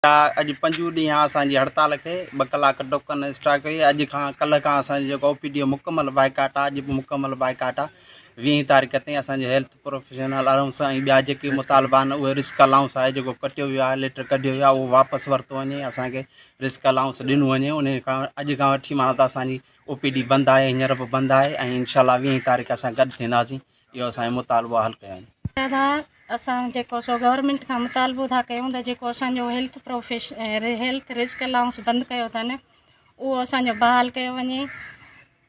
جا اڄ پنجون ڏينهن اسان جي هڙتال کي ٻه ڪلاڪ ٽوڪن اسٽراڪ هئي اڄ کان ڪلهه کان اسان جو او پي ڊي او مڪمل بائيڪاٽ آهي اڄ به مڪمل بائيڪاٽ آهي ويهين تاريخ تائين اسان جو هيلٿ پروفيشنل الائونس ۽ ٻيا جيڪي مطالبا آهن اهي رسڪ الائونس آهي جيڪو ڪٽيو ويو آهي ليٽر ڪڍيو ويو آهي اهو واپس ورتو وڃي اسانکي رسڪ الائونس ڏنو وڃي ان کان اڄ کان وٺي مانا ته اسانجي او پي ڊي بند آهي هينئر به بند آهي ۽ انشاء الله ويهين تاريخ اسان گڏ ٿينداسين اهو اسان جي مطالبا حل ڪيا آهن. دادا اسان جيڪو سو گورنمينٽ کان مطالبو ٿا ڪيون ته جيڪو اسان جو هيلٿ پروفيش هيلٿ رسڪ الاونس بند ڪيو اٿن اهو اسان جو بحال ڪيو وڃي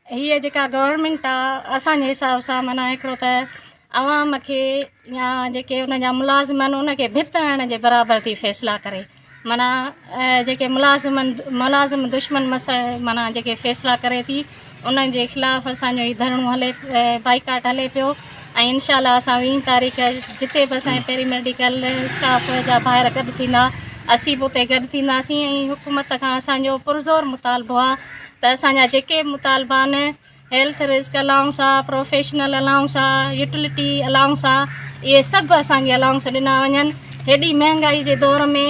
هي جيڪا گورنمينٽ آ اسان جي حساب سان منا هڪڙو ته عوام کي يا جيڪي ان جا ملازم آهن ان کي ڀت هڻڻ جي برابر ٿي فيصلا ڪري معنيٰ جيڪي ملازم دشمن معنيٰ جيڪي فيصلا ڪري ٿي انهن جي خلاف اسان جو هي ڌرڻو هلي بائيڪاٽ هلي پيو ۽ انشاء الله اسان ويهه تاريخ جتي به اسان پيري ميڊيڪل اسٽاف جا ڀائر گڏ ٿيندا اسين به اتي گڏ ٿينداسين ۽ حڪومت کان اسان جو پرزور مطالبو آهي ته اسان جا جيڪي مطالبا آهن هيلٿ رسڪ الائونس آ، پروفيشنل الائونس آ، يوٽلٽي الائونس آ، اهي سڀ اسان کي الائونس ڏنا وڃن. هيڏي مهانگائي جي دور ۾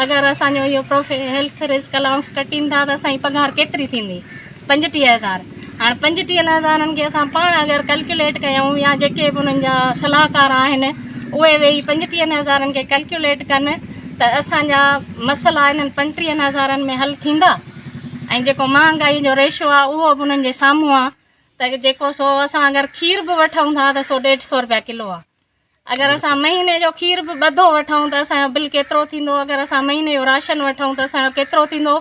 اگر اسان جو اهو پروفي هيلٿ رسڪ الائونس ڪٽين ٿا ته اسان جي پگهار ڪيتري ٿيندي؟ پنجٽيهه هزار. هاڻ پنجٽيهن هزارن کي اسان پاڻ اگر ڪلڪيوليٽ ڪيون يا جيڪي به انهن جا صلاحڪار آهن اهي ويهي پنجٽيهن هزارن کي ڪلڪيوليٽ ڪن ته اسان جا مسئلا انهن پنٽيهن هزارن ۾ حل ٿيندا؟ ۽ جيڪو مهانگائي جو ريشو آهي اهو به انهن جي سامهون آهي ته جيڪو سو اسان اگر کير به وٺون ٿا ته سو ڏيڍ سو روپيا ڪلو آهي اگر اسان مهيني جو کير به ٻڌو وٺون ته اسان جو بل ڪيترو ٿيندو اگر اسان مهيني جو راشن وٺون ته اسان جو ڪيترو ٿيندو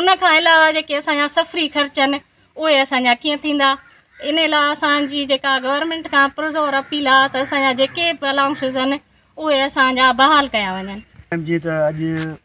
ان کان علاوه جيڪي اسان جا سفري خرچ آهن اهي اسان جا ڪيئن ٿيندا ان لاء اسان جي جيڪا گورنمنٽ کان پرزور اپيل آهي ته اسان جا جيڪي به الاؤنسز آهن اهي اسان جا بحال ڪيا وڃن جيئن ته اڄ